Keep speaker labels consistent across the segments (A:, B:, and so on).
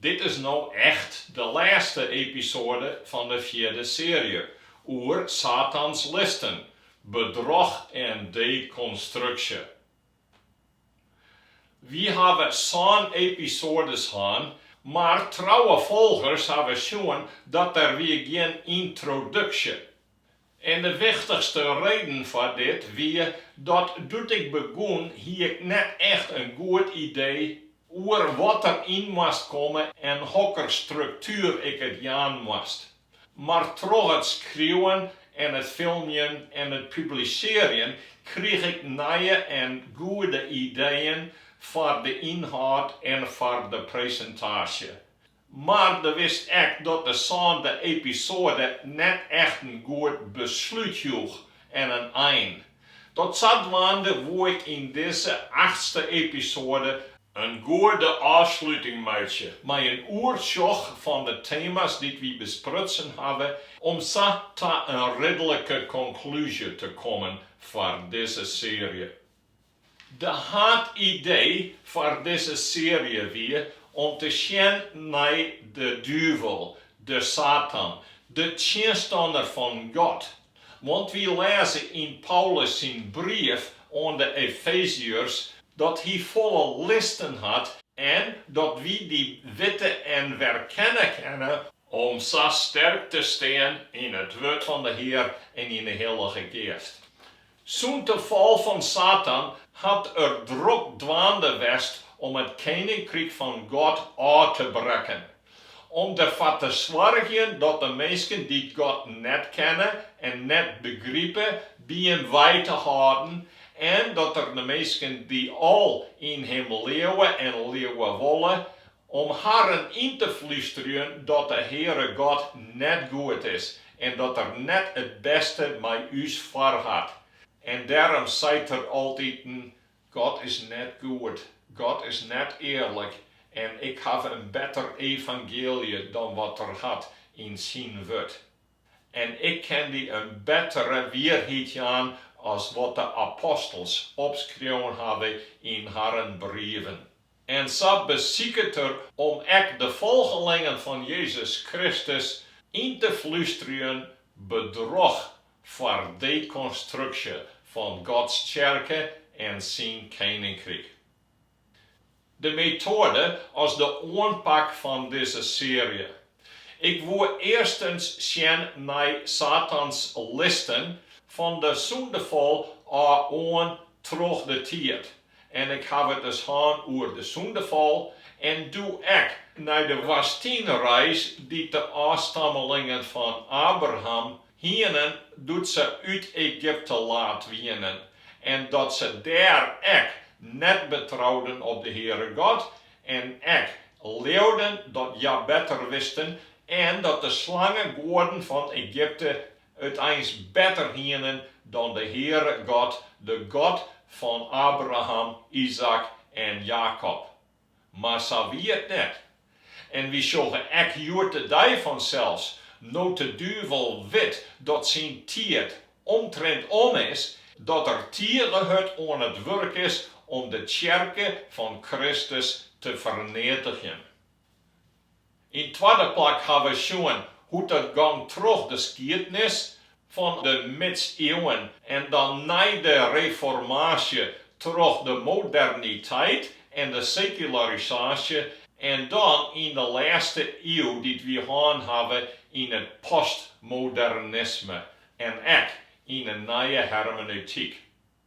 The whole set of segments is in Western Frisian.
A: Dit is no echt de lêste episoade fan de fjirde seary oer Satans listen, bedroch en dekonstruksje. Wy hawwe sân episoades hân, mar trouwe folgers hawwe sjoen dat der wie gjin yntroduksje. En de wichtichste reden foar dit wie dat doe't ik begûn hie ik net echt in goed idee oer wat der yn moast komme en hokker struktuer ik it jaan moast. Mar troch it skriuwen en it filmjen en it publisearjen krige ik nije en goede ideeën foar de ynhâld en foar de presintaasje. Mar doe wie 't ek dat de sânde episoade net echt in goed beslút joech en in ein. Dat sadwaande woe ik yn dizze achtste episoade in goede ôfsluting meitsje mei in oersjoch fan de tema's dy't wy besprutsen hawwe om sa ta in ridlike konklúzje te kommen foar dizze seary. De haadidee foar dizze seary wie om te sjen nei de duvel, de Satan, de tsjinstanner fan God. Want wy lêze yn Paulus syn brief oan de Efeziërs dat hy folle listen hat en dat wy dy witte en werkenne kinne, om sa sterk te stean yn it wurd fan de Hear en yn de Hillige Geast. Sûnt de fal fan Satan hat er drok dwaande west om it keninkryk fan God ôf te brekken, om derfoar te soargjen dat de minsken dy't God net kenne en net begripe by him wei te hâlden en dat er de minsken dy't al yn him leauwe en leauwe wolle Om harren yn te flústerjen dat de Heare God net goed is en dat Er net it bêste mei ús foarhat. En dêrom seit er altiten, God is net goed, God is net earlik en ik haw in better evangeelje dan wat Er hat yn Syn Wurd. En ik kin dy in bettere wierheid jaan as wat de apostels opskreaun hawwe yn harren brieven. en sa besiket er om ek de folgelingen fan Jezus Kristus yn te flústerjen bedroch foar dekonstruksje fan Gods Tsjerke en Syn Keninkryk. De metoade as de oanpak fan dizze seary. Ik woe earstens sjen nei Satans listen fan de sûndefal ôf oan troch de tiid. En ik haw it dus hân oer de sûndefal en doe ek nei de woastynreis dy't de ôfstammelingen fan Abraham hienen doe't se út Egypte laat wienen, en dat se dêr ek net betrouden op de Heare God, en ek leauden dat hja better wisten, en dat de slangegoaden fan Egypte it eins better hienen dan de Heare God, de God fan Abraham, Izaäk en Jakob. Mar sa wie it net. En wy sjogge ek hjoed-de-dei fansels, no't de duvel wit dat syn tiid omtrint om is, dat er tige hurd oan it wurk is om de tsjerke fan Kristus te ferneatigjen. Yn twadde plak ha we sjoen hoe't dat gong troch de skiednis fan de Midsieuwen en dan nei de Reformaasje troch de moderniteit en de sekularisaasje en dan yn de lêste iuw dy't wy hân hawwe yn it postmodernisme en ek yn in nije hermeneutyk.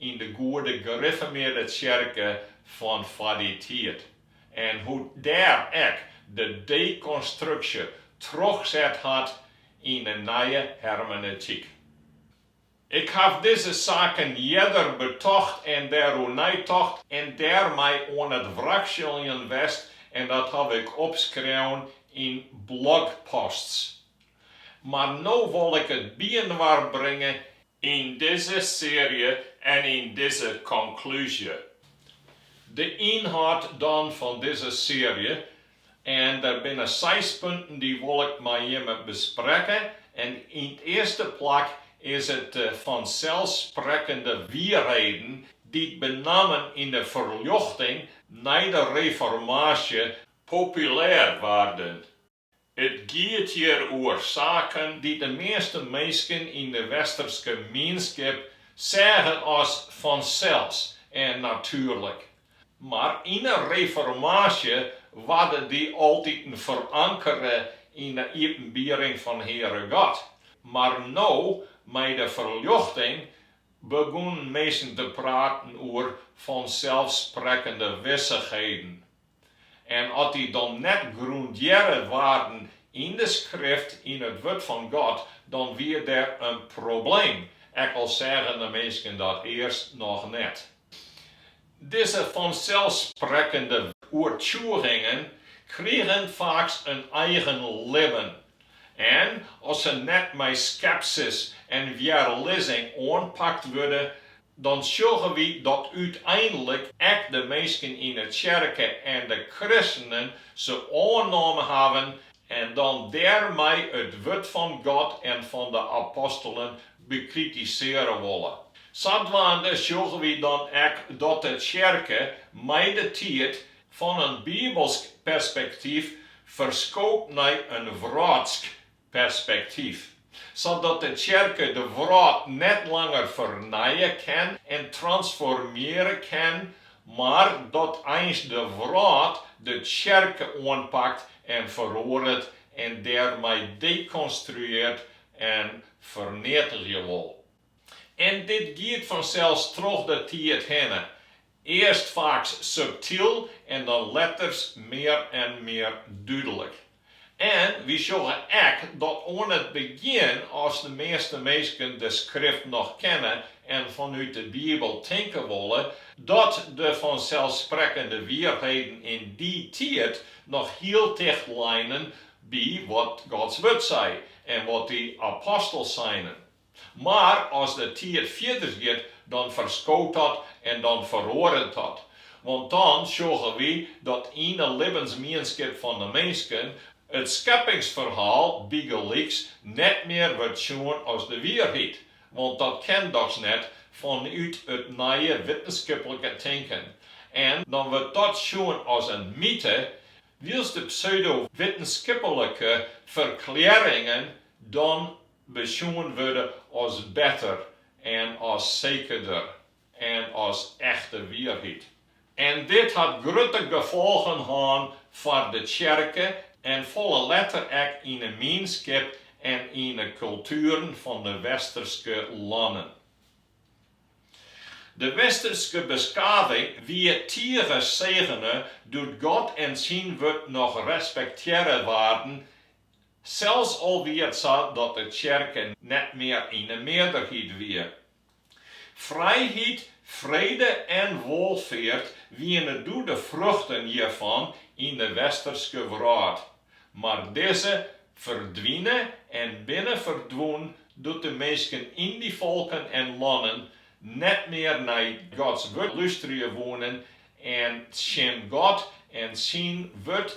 A: yn de goede gerifformearde tsjerke fan foar dy tiid en hoe't dêr ek de dekonstruksje trochset hat yn de nije hermeneutyk. Ik haw dizze saken earder betocht en dêroer neitocht en dêrmei oan it wrakseljen west en dat haw ik opskreaun yn blogposts. Mar no wol ik it byinoar bringe yn dizze searje en yn dizze konklúzje. De ynhâld dan fan dizze searje, en der binne seis punten dy wol ik mei jimme besprekke en yn it earste plak is it de fanselsprekkende wierreden dy't benammen yn de Ferljochting nei de Reformaasje populêr waarden. It giet hjir oer saken dy't de measte minsken yn de westerske mienskip seagen as fansels en natuerlik. Mar yn 'e Reformaasje waarden dy altiten ferankere yn 'e iepenbiering fan Heare God. Mar no, mei de ferljochting, begûnen minsken te praten oer fanselssprekkende wissichheden. En as dy dan net grûndearre waarden yn de Skrift, yn it Wurd fan God, dan wie der in probleem, ek al seagen de minsken dat earst noch net. Dizze fanselsprekkende oertsjûgingen krigen faaks in eigen libben, en as se net mei skepsis en wjerlizzing oanpakt wurde, dan sjogge wy dat úteinlik ek de minsken yn 'e tsjerke en de kristenen se oernommen hawwen en dan dêrmei it wurd fan God en fan de apostelen bekritisearje wolle. Sadwaande sjogge wy dan ek dat de tsjerke mei de tiid fan in bibelsk perspektyf ferskoopt nei in wrâldsk perspektyf, sadat de tsjerke de wrâld net langer fernije kin en transformearje kin, mar dat eins de wrâld de tsjerke oanpakt en feroaret en dêrmei dekonstruearret en ferneatigje wol. En dit giet fansels troch de tiid hinne, earst faaks subtyl en dan letters mear en mear dúdlik. En wy sjogge ek dat oan it begjin, as de measte minsken de Skrift noch kenne en fanút de Bibel tinke wolle, dat de fanselsprekkende wierheden yn dy tiid noch hiel ticht leinen by wat Gods Wurd sei en wat dy apostels seinen. Mar as de tiid fierders giet, dan ferskoot dat en dan feroaret dat. Want dan sjogge wy dat yn 'e libbensmienskip fan 'e minsken it skeppingsferhaal bygelyks net mear wurdt sjoen as de wierheid, want dat kin dochs net fanút it nije wittenskiplike tinken, en dan wurdt dat sjoen as in myte, wylst de pseudo-wittenskiplike ferklearringen dan besjoen wurde as better en as sekerder en as echte wierheid. En dit hat grutte gefolgen hân foar de tsjerke en folle letters ek yn 'e mienskip en yn 'e kultueren fan de Westerske lannen. De Westerske beskaving wie tige segene doe't God en syn wurd noch respektearre waarden Selfs al wie it sa dat de tsjerke net mear yn de mearderheid wie. Frijheid, frede en wolfeart wiene doe de fruchten hjirfan yn de Westerske wrâld, mar dizze ferdwine en binne ferdwûn doe't de minsken yn dy folken en lannen net mear nei Gods wurd lústerje woenen en tsjin God en syn wurd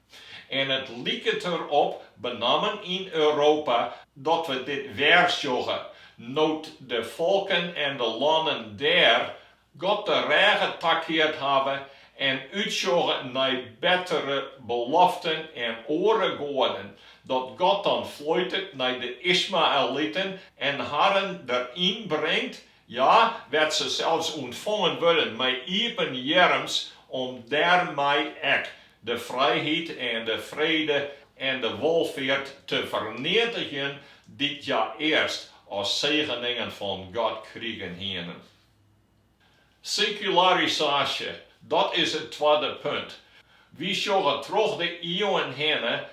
A: En it liket der op, benammen yn Europa, dat we dit wer sjogge, no't de folken en de lannen dêr God de rêge takeard hawwe en útsjogge nei bettere beloften en oare goaden, dat God dan floitet nei de Ismaeliten en harren deryn bringt Hja wêr't se sels ûntfongen wurde mei iepen earms om dêrmei ek de frijheid en de frede en de wolfeart te ferneatigjen dy't hja earst as segeningen fan God krigen hiene. Sekularisaasje, dat is it twadde punt. Wy sjogge troch de ieuwen hinne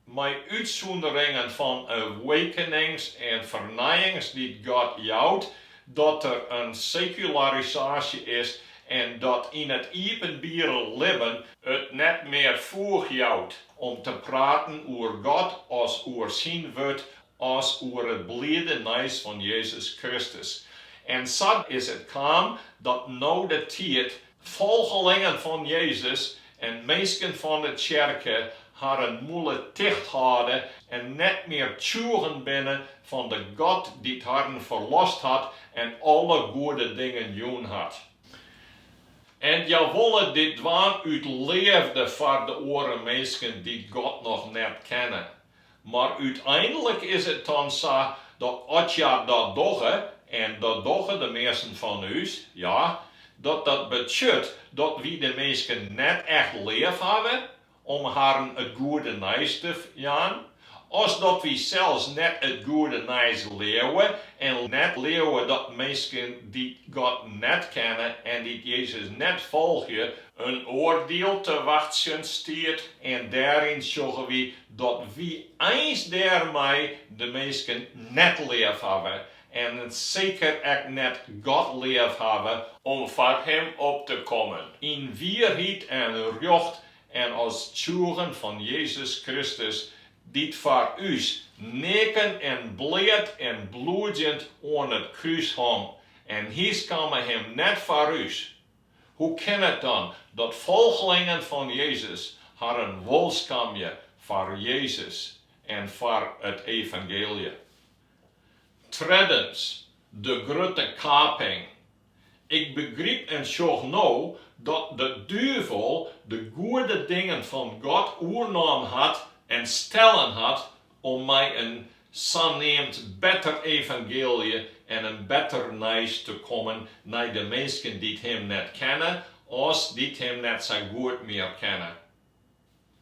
A: Mei útsûnderingen fan awakenings en fernijings dy't God jout, dat der in sekularisaasje is en dat yn it iepenbiere libben, it net mear foech jout om te praten oer God as oer syn wurd as oer it bliede nijs fan Jezus Kristus. En sa is it kaam dat no de tiid Folgelingen fan Jezus en minsken fan de tsjerke harren mûle ticht hâlde en net mear tsjûgen binne fan de God dy't harren ferlost hat en alle goede dingen jûn hat. En hja wolle dit dwaan út leafde foar de oare minsken dy't God noch net kenne. Mar úteinlik is it dan sa dat as hja dat dogge, en dat dogge de measten fan ús, ja, dat dat betsjut dat wy de minsken net echt leaf hawwe om harren it goede nijs te jaan, as dat wy sels net it goede nijs leauwe en net leauwe dat minsken dy't God net kenne en dy't Jezus net folgje, In oardiel te wachtsjen stiet en dêryn sjogge wy dat wy eins dêrmei de minsken net leafhawwe en seker ek net God leafhawwe, om foar Him op te kommen yn wierheid en rjocht en as tsjûgen fan Jezus Kristus, dy't foar ús neaken en bleat en bliedend oan it krús hong, en Hy skamme Him net foar ús, Hoe kin it dan dat folgelingen fan Jezus harren wol skamje foar Jezus en foar it evangeelje? Treddens, de grutte kaping. Ik begryp en sjoch no dat de duvel de goede dingen fan God oernommen hat en stellen hat om mei in saneamd better evangeelje en in better nijs te kommen nei de minsken dy't Him net kenne, as dy't Him net sa goed mear kenne.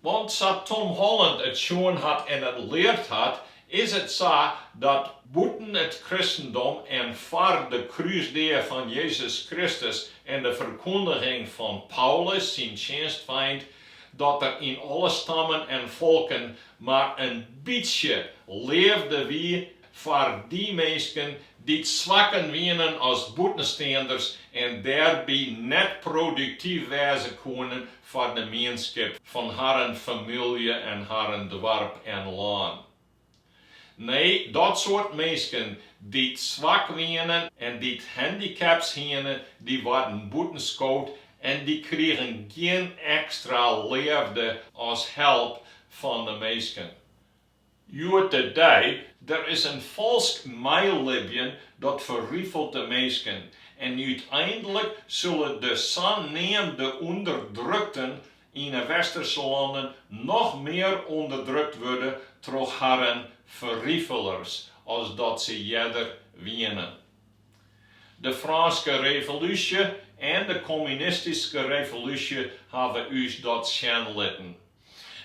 A: Want sa Tom Holland it sjoen hat en it leard hat, is it sa dat bûten it kristendom en foar de krúsdea fan Jezus Kristus en de ferkûndiging fan Paulus syn tsjinstfeint Dat der yn alle stammen en folken mar in bytsje leafde wie foar dy minsken dy't swakker wienen of bûtensteanders en dêrby net produktyf wêze koenen foar de mienskip fan harren famylje en harren doarp en lân. Nee, dat soart minsken dy't swak wiene en dy't handicaps hiene, dy waarden bûtenskood en dy krigen gjin ekstra leafde of help fan de minsken. Hjoed-de-dei, der is in falsk meilibjen dat ferrifelt de minsken en úteinlik sille de saneamde ûnderdrukten yn 'e Westerske lannen noch mear ûnderdrukt wurde troch harren ferrifelers as dat se earder wienen. De Frânske Revolúsje en de Kommunistyske Revolúsje hawwe ús dat sjen litten.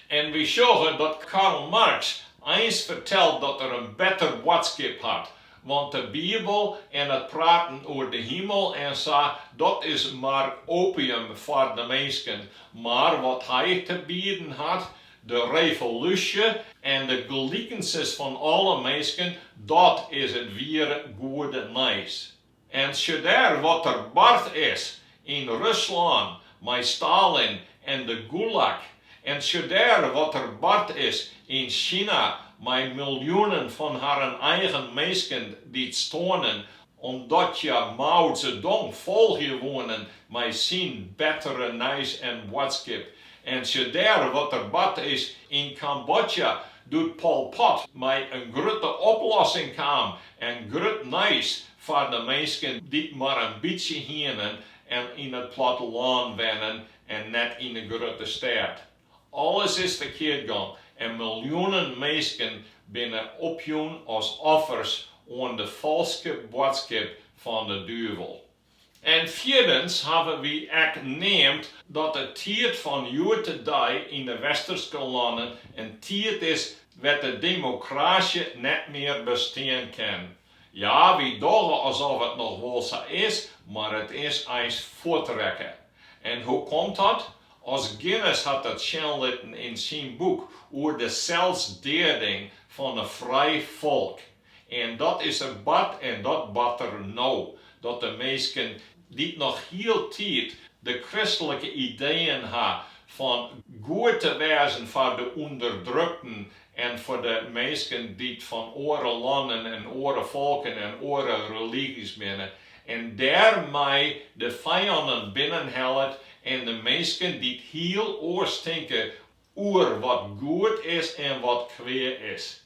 A: En wy sjogge dat Karl Marx eins fertelt dat er in better boadskip hat Want de Bibel en it praten oer de himel en sa, dat is mar opium foar de minsken. Mar wat hy te bieden hat, de revolúsje en de gelikenses fan alle minsken, dat is it wiere goede nijs. En sjedêr wat der bard is, yn Ruslân mei Stalin en de Gulag en sjedêr wat der bard is yn Sina mei miljoenen fan harren eigen minsken dy't stoarnen omdat hja Mao Zedong folgje woenen mei syn bettere nijs en boadskip en sjedêr wat der bard is yn Kambodja doe't Pol Pot mei in grutte oplossing kaam en grut nijs Foar de minsken dy't mar in bytsje hienen en yn it plattelân wennen en net yn de grutte stêd. Alles is ferkeard gong en miljoenen minsken binne opjûn as offers oan de falske boadskip fan de duvel. En fierdens hawwe wy ek neamd dat de tiid fan hjoed-de-dei yn de Westerske lannen in tiid is wêr't de demokraasje net mear bestean kin. Ja, wy dogge asof it noch wol sa is, mar it is eins fuort rekke. En hoe komt dat? Os Guinness hat it sjen litten yn syn boek oer de selsdeading fan in frij folk. En dat is der bard en dat bart der no, dat de minsken dy't noch hieltyd de kristlike ideeën ha fan goed te wêzen foar de ûnderdrukten en foar de minsken dy't fan oare lannen en oare folken en oare religy's binne, en dêrmei de fijannen binnenhellet en de minsken dy't hiel oars tinke oer wat goed is en wat kwea is.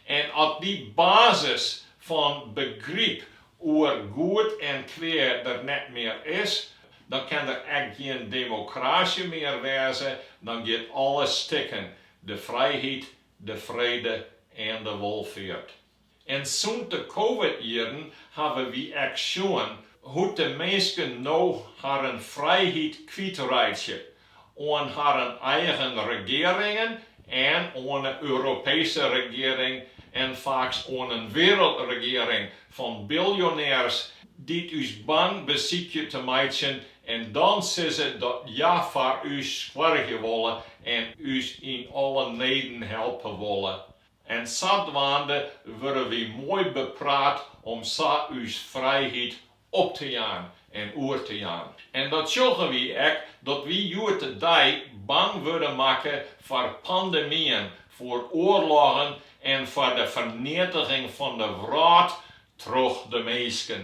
A: En as dy basis fan begryp oer goed en kwea der net mear is, dan kin der ek gjin demokrasje mear wêze, dan giet alles stikken, de frijheid, de frede en de wolfeart. En sûnt de covid-jierren hawwe wy ek sjoen hoe't de minsken no harren frijheid kwytreitsje oan harren eigen regearingen en oan 'e Europeeske regearing en faaks oan in wiereldregearing fan biljonêrs dy't ús bang besykje te meitsjen en dan sizze dat hja foar ús soargje wolle en ús yn alle neden helpe wolle. En sadwaande wurde wy moai bepraat om sa ús frijheid op te jaan en oer te jaan. En dat sjogge wy ek, dat wy hjoed-de-dei bang wurde makke foar pandemyen, foar oarloggen en foar de ferneatiging fan de wrâld troch de minsken.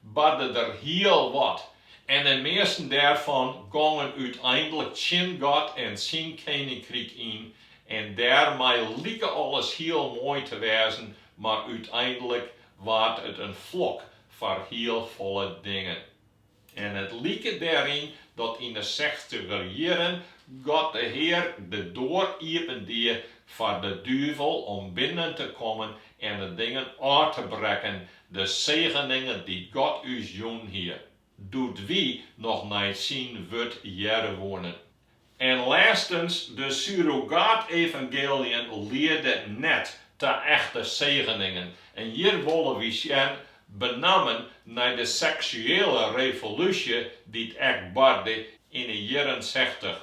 A: barde der hiel wat, en 'e measten dêrfan gongen úteinlik tsjin God en Syn Keninkryk yn, en dêrmei like alles hiel moai te wêzen, mar úteinlik waard it in flok foar hiel folle dingen. En it like dêryn dat yn 'e sechstiger jierren God de Hear de doar iepen die foar de duvel om binnen te kommen en 'e dingen ôf te brekken De segeningen dy't God ús jûn hie, doe't wy noch nei syn wurd hearre woenen. En lêstens, de surrogaat-evangealiën liede net ta echte segeningen. En hjir wolle wy sjen, benammen nei de seksuele revolúsje dy't ek barde yn 'e jierren sechtich.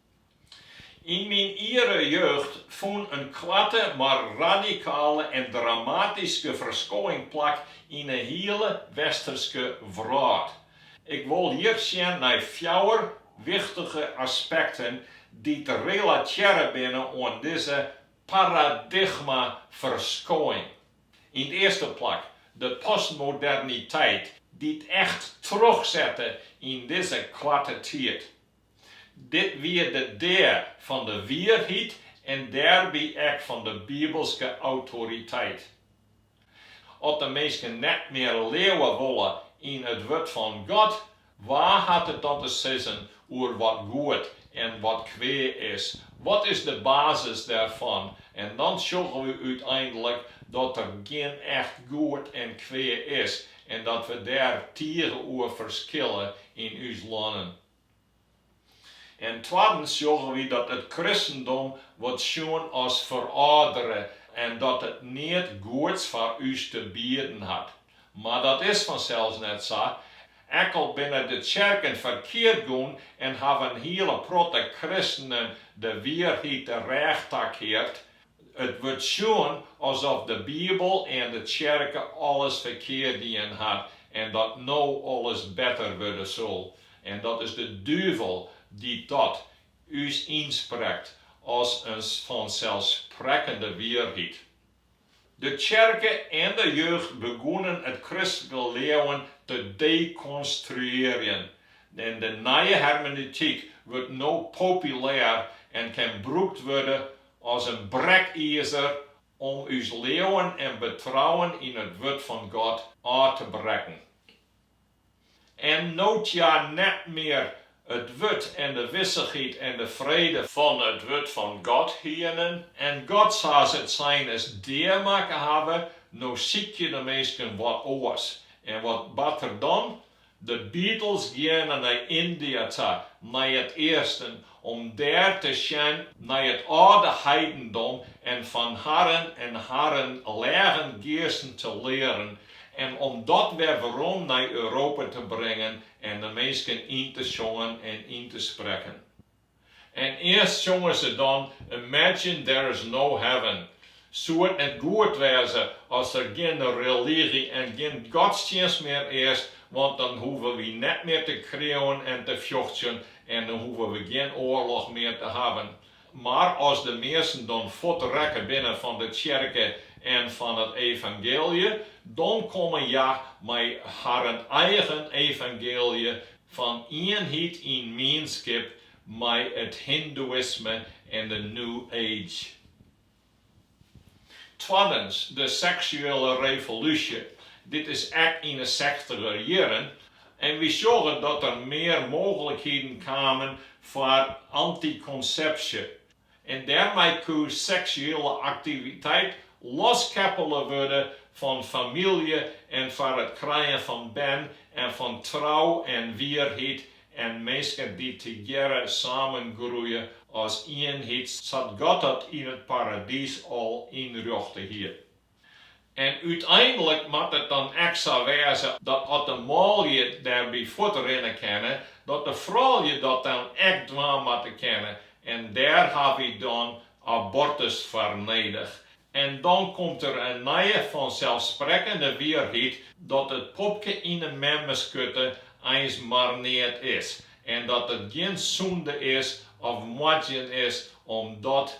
A: Yn myn iere jeugd fûn in koarte mar radikale en dramatyske ferskoing plak yn 'e hiele Westerske wrâld. Ik wol hjir sjen nei fjouwer wichtige aspekten dy't relatearre binne oan dizze paradigmaferskoing. Yn 't earste plak de postmoderniteit dy't echt trochsette yn dizze koarte tiid. Dit wie de dea fan de wierheid en dêrby ek fan de bibelske autoriteit. As de minsken net mear leauwe wolle yn it wurd fan God, wa hat it dan te sizzen oer wat goed en wat kwea is? Wat is de basis dêrfan? En dan sjogge we úteinlik dat der gjin echt goed en kwea is en dat we dêr tige oer ferskille yn ús lannen. En twaddens sjogge wy dat it kristendom wurdt sjoen as ferâldere en dat it neat goeds foar ús te bieden hat. Mar dat is fansels net sa. Ek al binne de tsjerken ferkeard gongen en hawwe in hiele protte kristenen de wierheid de rêch takeard, It wurdt sjoen asof de Bibel en de tsjerken alles ferkeard dien hat en dat no alles better wurde sil. En dat is de duvel dy't dat ús ynsprekt as in fanselssprekkende wierheid. De tsjerke en de jeugd begûn it kristlike leauwen te dekonstruearjen en de nije hermeneutyk wurdt no populêr en kin brûkt wurde As in brekizer om ús leauwen en betrouwen yn it Wurd fan God ôf te brekken. En no't hja net mear it Wurd en de wissichheid en de frede fan it Wurd fan God hienen, en God sa's it sein is dea makke hawwe, no sykje de minsken wat oars. En wat bart der dan? De Beatles geane nei Yndia ta, nei it easten, om dêr te sjen nei it âlde heidendom en fan harren en harren lêgen geasten te learen en om dat wer werom nei Europa te bringen en de minsken yn te sjongen en yn te sprekken. En earst sjonge se dan Imagine There Is No Heaven. Soe it net goed wêze as der gjin religy en gjin godstsjinst mear is, want dan hoege wy net mear te kreauwen en te fjochtsjen en dan hoege we gjin oarloch mear te hawwen. Mar as de minsken dan fuort rekke binne fan de tsjerke en fan it evangeelje, dan komme hja mei harren eigen evangeelje Fan ienheid yn mienskip mei it hindoeïsme en de New Age. Twaddens, de seksuele revolúsje. Dit is ek yn 'e sechtiger jierren en wy sjogge dat der mear mooglikheden kamen foar antikonsepsje, en dêrmei koe seksuele aktiviteit loskeppele wurde fan famylje en foar it krijen fan bern en fan trou en wierheid en minsken dy't tegearre samengroeie as ienheid sa't God dat yn it Paradys al ynrjochte hie. En úteinlik moat it dan ek sa wêze dat as de manlju dêrby fuort rinne kinne, dat de froulju dat dan ek dwaan moatte kinne. En dêr ha wy dan abortus foar nedich. En dan komt der in nije fanselsprekkende wierheid dat it popke yn de memmeskurte eins mar neat is en dat it gjin sûnde is of moardzjen is om dat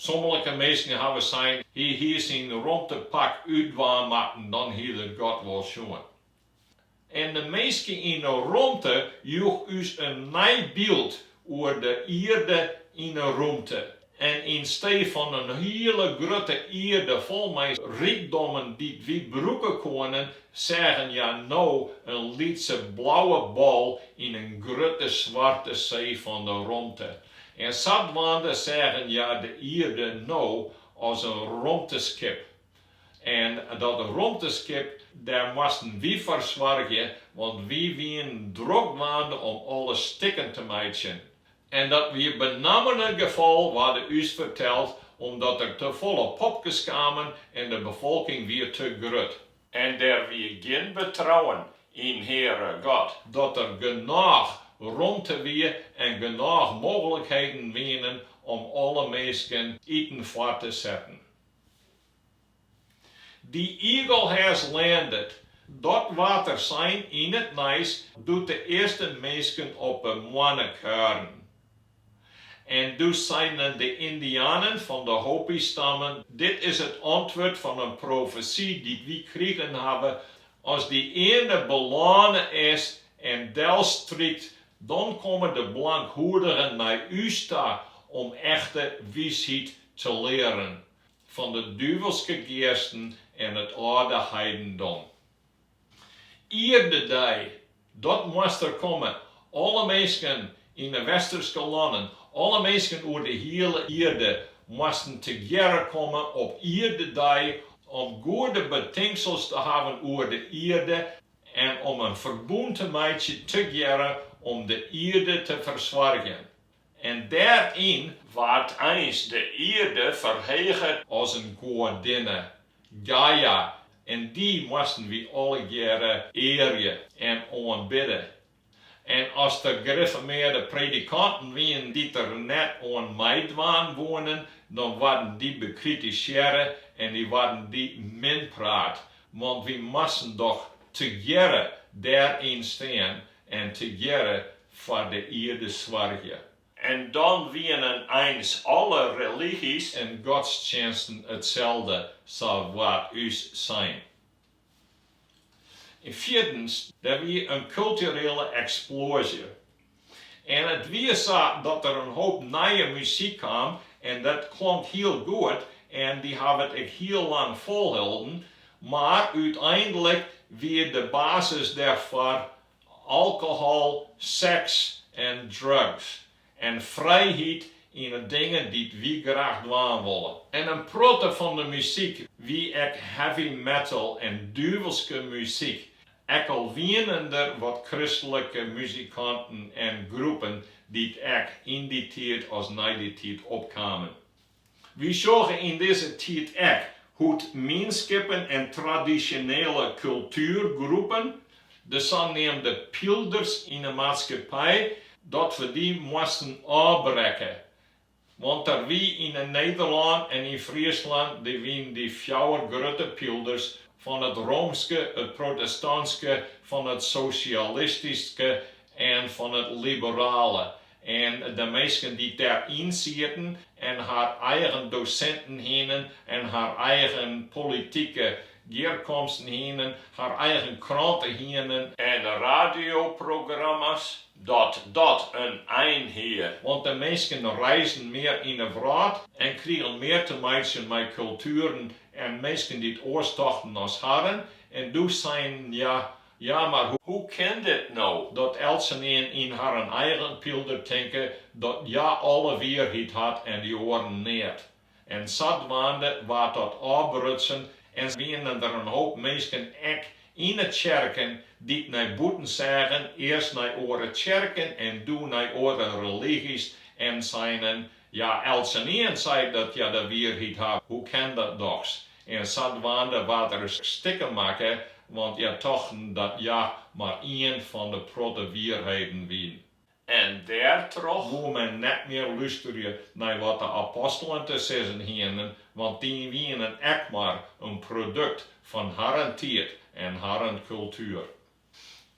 A: Sommelike minsken hawwe sein, hy hie syn romtepak útdwaan moatten, dan hied er God wol sjoen. En de minske yn de romte joech ús in nij byld oer de ierde yn de romte. En yn stee fan in hiele grutte ierde fol mei rykdommen dy't wy brûke koenen, seagen hja no in lytse blauwe bal yn in grutte swarte see fan de romte. En sadwaande seagen hja de Ierde no as in romteskip. En dat romteskip, dêr moasten wy foar soargje, want wy wienen drok dwaande om alles stikken te meitsjen. En dat wie benammen it gefal, waarde ús ferteld, omdat der te folle popkes kamen en de befolking wie te grut. En der wie gjin betrouwen yn Heare God. Dat der genôch romte wie en genôch mooglikheden wienen om alle minsken iten foar te setten. The eagle has landed, dat waard der sein yn it nijs doe't de earste minsken op 'e moanne kuierden. En doe seinen de Yndianen fan de Hopi-stammen, Dit is it antwurd fan in profesy dy't wy krigen hawwe, As dy earne belâne is en delstrykt, dan komme de blankhoedigen nei ús ta om echte wysheid te learen fan de duvelske geasten en it âlde heidendom. Ierdedei dat moast der komme alle minsken yn de Westerske lannen, alle minsken oer de hiele ierde, moasten tegearre komme op Ierdedei om goede betinksels te hawwen oer de ierde en om in ferbûn te meitsje tegearre om de ierde te fersoargjen. En dêryn waard eins de earde ferheget as in goadinne, Gaia, en dy moasten wy allegearre earje en oanbidde. En as der grifformearde predikanten wienen dy't der net oan meidwaan woenen, dan waarden dy bekritisearre en dy waarden dy minpraat, want wy moasten dochs tegearre dêryn stean en tegearre foar de ierde soargje. En dan wienen eins alle religys en godstsjinsten itselde, sa waard ús sein. En fjirdens, der wie in kulturele eksploazje. En it wie sa dat der in hoop nije muzyk kaam en dat klonk hiel goed en dy hawwe it ek hiel lang folholden, mar úteinlik wie de basis dêrfoar alkohol, seks en drugs, en frijheid yn 'e dingen dy't wy graach dwaan wolle. En in protte fan de muzyk wie ek heavy metal en duvelske muzyk, ek al wienen der wat kristlike muzikanten en groepen dy't ek yn dy tiid as nei dy tiid opkamen. Wy sjogge yn dizze tiid ek hoe't mienskippen en tradisjonele kultuergroepen, de saneamde pylders yn 'e maatskippij, dat we dy moasten ôfbrekke. Want der wie yn Nederlân en yn Fryslân, der wienen dy fjouwer grutte pylders fan it roomske, it protestanske, fan it sosjalistyske en fan it liberale. En de minsken dy't dêr yn sieten en har eigen dosinten hienen en har eigen politike gearkomsten hienen, har eigen kranten hienen. En radioprogramma's, dat dat in ein hie. Want de minsken reisden mear yn 'e wrâld en krigen mear te meitsjen mei kultueren en minsken dy't oars tochten as harren en doe seinen, ja, Ja, mar hoe kin it no dat eltsenien yn harren eigen pylder tinke dat hja alle wierheid hat en dy oaren neat? En sadwaande waard dat ôfbrutsen en wiene der in hoop minsken, ek yn 'e tsjerken, dy't nei bûten seagen, earst nei oare tsjerken en doe nei oare religys, en seinen, Ja, eltsenien seit dat hja de wierheid hat, hoe kin dat dochs? En sadwaande waard der stikken makke, want hja tochten dat hja mar ien fan de protte wierheden wiene. En dêrtroch woe men net mear lusterje nei wat de apostelen te sizzen hienen, want dy wienen ek mar in produkt fan harren tiid en harren kultuer.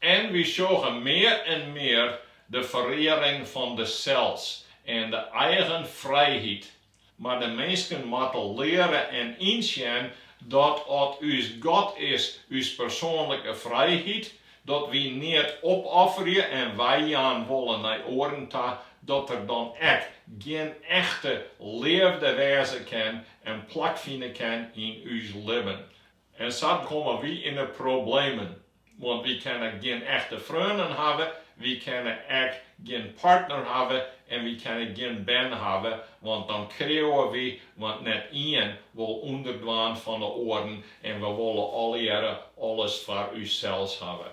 A: En wy sjogge mear en mear de ferearing fan it sels en de eigen frijheid. Mar de minsken moatte leare en ynsjen dat at ús God is ús persoanlike frijheid, dat wy neat opofferje en weijaan wolle nei oaren ta, dat der dan ek gjin echte leafde wêze kin en plak fine kin yn ús libben. En sa komme wy yn 'e problemen, want wy kinne gjin echte freonen hawwe, wy kinne ek gjin partner hawwe en wy kinne gjin bern hawwe, want dan kreauwe wy, want net ien wol ûnderdwaan fan 'e oaren en we wolle allegearre alles foar ússels hawwe.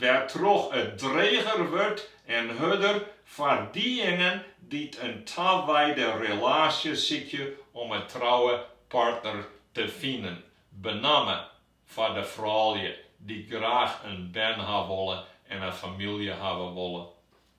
A: Wêrtroch it dreger wurdt en hurder foar diejingen dy't in taweide relaasje sykje om in trouwe partner te finen, benammen foar de froulju dy't graach in bern ha wolle en in famylje hawwe wolle.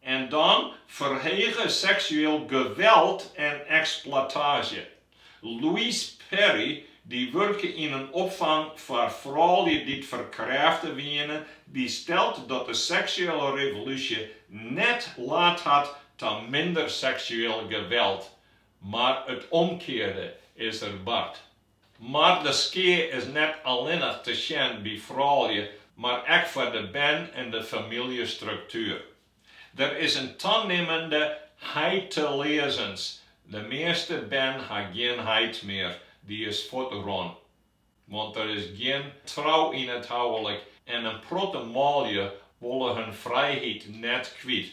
A: En dan ferhege seksueel geweld en eksploitaasje. Louise Perry, dy't wurke yn in opfang foar froulju dy't ferkrêfte wiene, dy stelt dat de seksuele revolúsje net laat hat ta minder seksueel geweld, mar it omkearde is der bard. Mar de skea is net allinnich te sjen by froulju, mar ek foar de bern en de famyljestruktuer. Der is in tanimmende heiteleazens, de measte bern ha gjin heit mear, dy is fuortrûn. Want der is gjin trou yn it houlik en in protte manlju wolle hun frijheid net kwyt.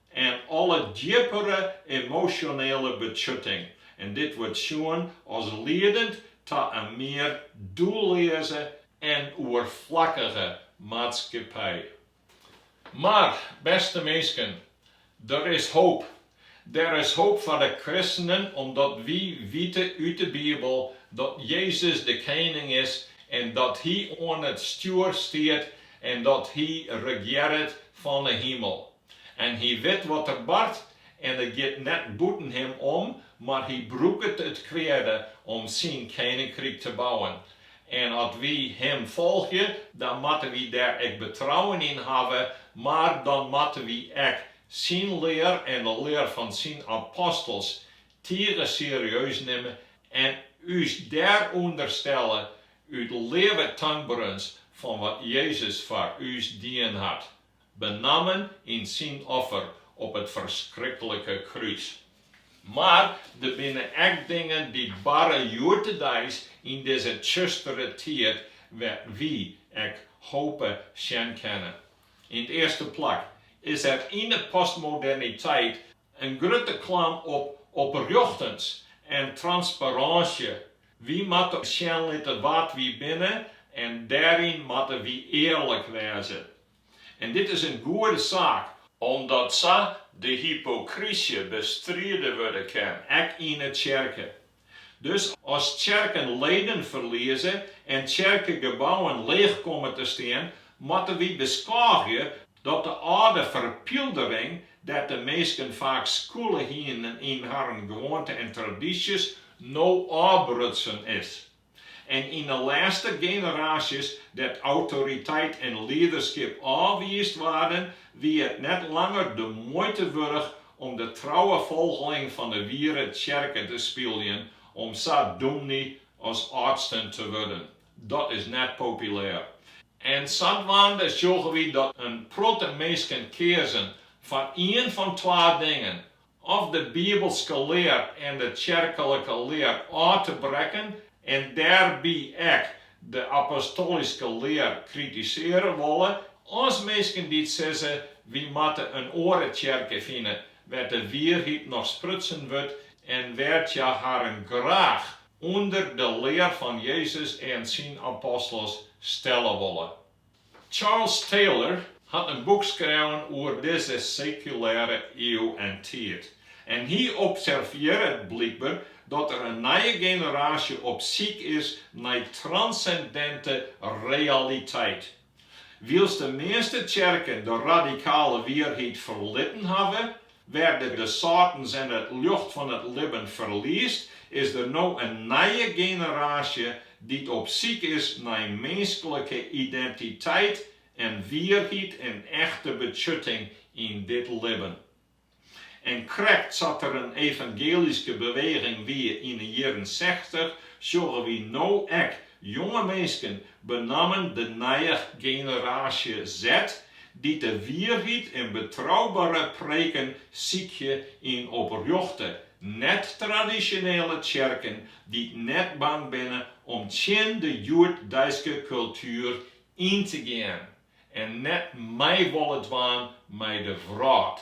A: en alle djippere emosjonele betsjutting, en dit wurdt sjoen as liedend ta in mear doelleaze en oerflakkige maatskippij. Mar, bêste minsken, der is hoop. Der is hoop foar de kristenen omdat wy wiete út de Bibel dat Jezus de Kening is en dat Hy oan it stjoer stiet en dat Hy regearret fan 'e himel. En hy wit wat der bart en it giet net bûten him om, mar hy brûket it kweade om syn keninkryk te bouwen. En as wy him folgje, dan moatte wy dêr ek betrouwen yn hawwe, mar dan moatte wy ek syn lear en de lear fan syn apostels tige serieus nimme en ús dêr ûnderstelle út leafde, tankberens fan wat Jezus foar ús dien hat. benammen yn syn offer op it ferskrikkelike krús. Mar der binne ek dingen dy't barre hjoeddedeis yn dizze tsjustere tiid wêr't wy ek hope sjen kinne. Yn it earste plak is der yn 'e postmoderniteit, In grutte klam op oprjochtens en transparânsje. Wy moatte sjen litte wa't wy binne en dêryn moatte wy earlik wêze. En dit is in goede saak, omdat sa de hypokrysje bestride wurde kin, ek yn 'e tsjerke. Dus as tsjerken leden ferlieze en tsjerkegebouwen leech komme te stean, moatte wy beskôgje dat de âlde ferpyldering, dêr't de minsken faak skûle hienen yn harren gewoanten en tradysjes, no ôfbrutsen is. En yn 'e lêste generaasjes dêr't autoriteit en liederskip ôfwiisd waarden, wie it net langer de muoite wurdich om de trouwe folgeling fan 'e wiere tsjerke te spyljen om sa dûmny as âldsten te wurden. Dat is net populêr. En sadwaande sjogge wy dat in protte minsken keazen foar ien fan twa dingen, Of de bibelske lear en de tsjerklike lear ôf te brekken en dêrby ek de apostolyske lear kritiseare wolle, as minsken dy't sizze, wy moatte in oare tsjerke fine, wêr't de wierheid noch sprutsen wurdt en wêr't hja harren graach ûnder de lear fan Jezus en syn apostels stelle wolle. Charles Taylor hat in boek skreaun oer dizze sekulêre iuw en tiid, en hy observearret blykber dat der in nije generaasje op syk is nei transsendinte realiteit. Wylst de measte tsjerken de radikale wierheid ferlitten hawwe, Wêrtroch't de sâltens en it ljocht fan it libben ferliest, is der no in nije generaasje dy't op syk is nei minsklike identiteit en wierheid en echte betsjutting yn dit libben. En krekt sa't der in evangelyske beweging wie yn 'e jierren sechtich, sjogge wy no ek jonge minsken benammen de nije generaasje Z Dy't de wierheid en betroubere preken sykje yn oprjochte, net-tradisjonele tsjerken dy't net bang binne om tsjin de hjoeddeiske kultuer yn te gean en net mei wolle dwaan mei de wrâld,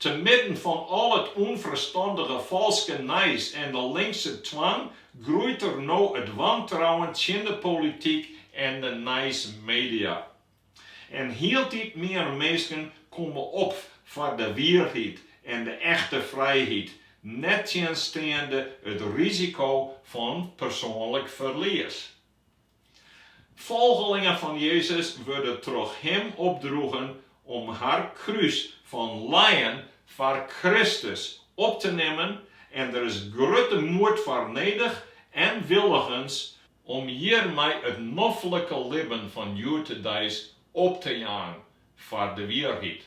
A: Te midden fan al it ûnferstandige falske nijs en de linkse twang groeit der no it wantrouwen tsjin de polityk en de nijsmedia. En hieltyd mear minsken komme op foar de wierheid en de echte frijheid, nettsjinsteande it risiko fan persoanlik ferlies. Folgelingen fan Jezus wurde troch him opdroegen om har krús fan lijen foar Kristus op te nimmen en der is grutte moed foar nedich en willigens om hjirmei it noflike libben fan hjoed-de-dei op te jaan foar de wierheid.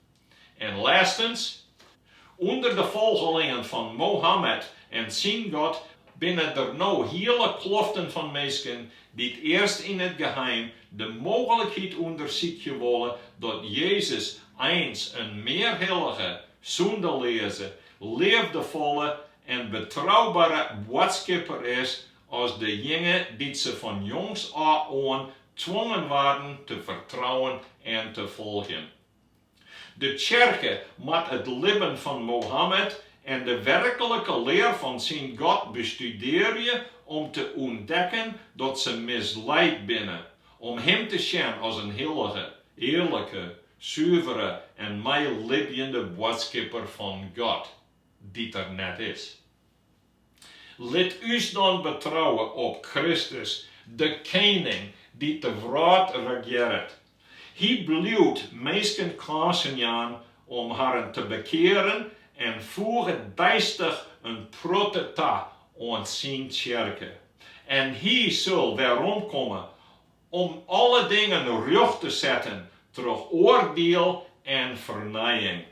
A: En lêstens, ûnder de folgelingen fan Mohammed en syn God binne der no hiele kloften fan minsken dy't earst yn it geheim de mooglikheid ûndersykje wolle dat Jezus eins in mear hillige, sûndeleaze, leafdefolle en betroubere boadskipper is as dejinge dy't se fan jongs ôf oan twongen waarden te fertrouwen en te folgjen. De Tsjerke moat it libben fan Mohammed en de werklike lear fan syn God bestudearje om te ûntdekken dat se misleid binne om him te sjen as in hillige, earlike, suvere en meilibjende boadskipper fan God, dy't der net is. Lit ús dan betrouwe op Kristus, de Kening dy't de wrâld regearret. Hy bliuwt minsken kânsen jaan om harren te bekearen en foeget deistich in protte ta oan syn tsjerke. En Hy sil weromkomme om alle dingen rjocht te setten troch oardiel en fernijing.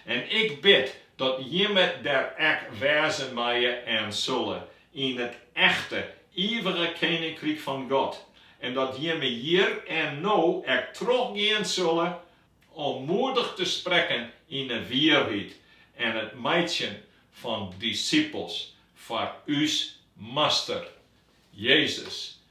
A: En ik bid dat jimme der ek wêze meie en sulle yn it echte, ivige keninkryk fan God, en dat jimme hjir en no ek trochgean sulle om moedich te sprekken yn 'e wierheid en it meitsjen fan disipels foar ús Master, Jezus